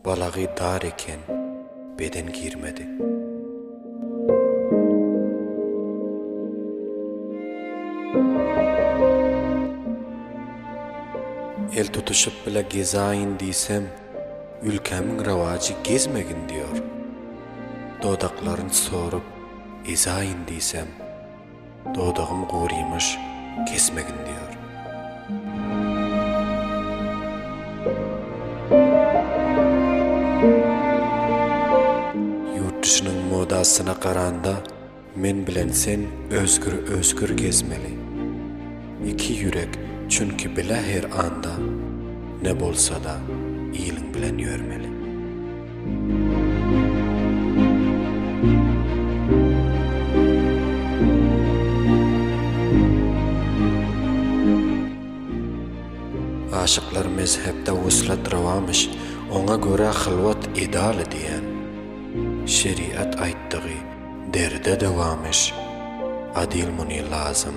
Balagy dar eken, beden girmedi. El tutuşyp bile gezaýyn diýsem, ülkämiň rawajy gezmegin diýýär. Dodaklaryn sorup ezaýyn diýsem, Dodagym gurymyş, kesmegin diýýär. Ýurt dişiniň modasyna garanda men bilen sen özgür özgür gezmeli. Iki ýürek çünki bile her anda ne bolsada iliň bilen ýörmeli. Aşyklar mezhepde wuslat rawamyş oňa görä hylwat ideal diýen şeriat aýtdygy derde dawamyş adyl muny lazym.